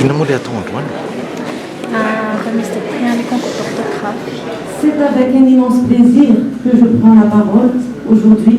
Inona moa ilay atao androany? Ah, fa misy teny any concours d'orthographe. C'est avec un immense plaisir que je prends la parole aujourd'hui.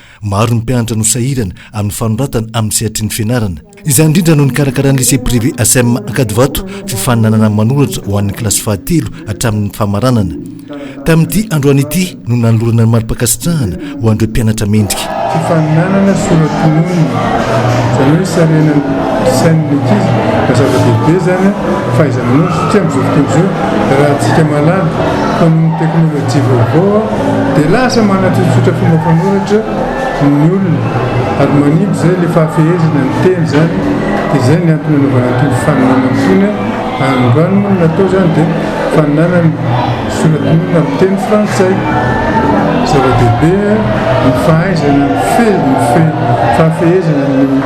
Maro ny mpianatra no sahirana amin'ny fanoratana amin'ny sehatry ny fianarana. Izany indrindra no nikarakaran'ny Lycée Privé Asem Ankadivato fifaninanana manoratra ho an'ny kilasy fahatelo hatramin'ny famaranana. Tamin'ity androany ity no nanolorana ny mari-pankasitrahana ho an'ireo mpianatra mendrika. Fifaninanana soratononina, izany hoe sarinan'ny sain'ny ankizy na zava-dehibe izany an, fahaiza-manao satria amin'izao fotoana izao raha antsika mahalala, tonon'ny teknolojia vaovao an, Dia lasa manatsotsotra fomba fanoratra ny olona ary manimba izay ilay fahafehezana ny teny izany dia izay ny antony anaovana an'itony faninanana itony ary ny raha ny moa no natao izany dia faninanana soratin'olona amin'ny teny frantsay. Zava-dehibe ny fahaizana mifehy ny fahafehezana ny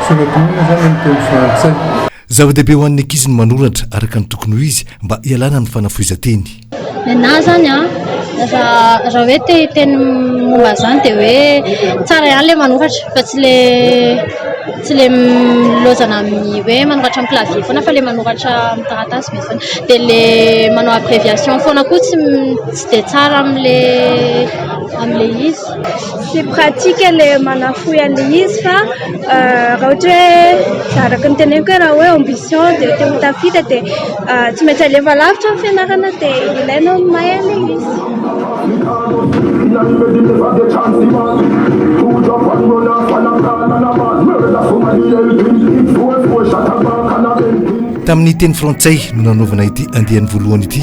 soratin'olona izany amin'ny teny frantsay. Zava-dehibe ho an'ny ankizy ny manoratra araka ny tokony ho izy mba hialana amin'ny fanafohezan-teny. Nenaha zany an, raha raha hoe te hiteny momba an'izany dia hoe tsara ihany ilay manoratra fa tsy ilay tsy ilay milaozana amin'ny hoe manoratra amin'ny clavier foana fa ilay manoratra amin'ny taratasy be foana, dia ilay manao abréviation foana koa tsy tsy dia tsara amin'ilay amin'ilay izy. Tsy pratique le manafohy an'le izy fa raha ohatra hoe araka ny teneniko hoe raha hoe ambition de te ho tafita de tsy maintsy alefa lavitra ny fianarana de ilaina ny mahay an'le izy. Tamin'ny teny frantsay no nanaovana ity andiany voalohany ity.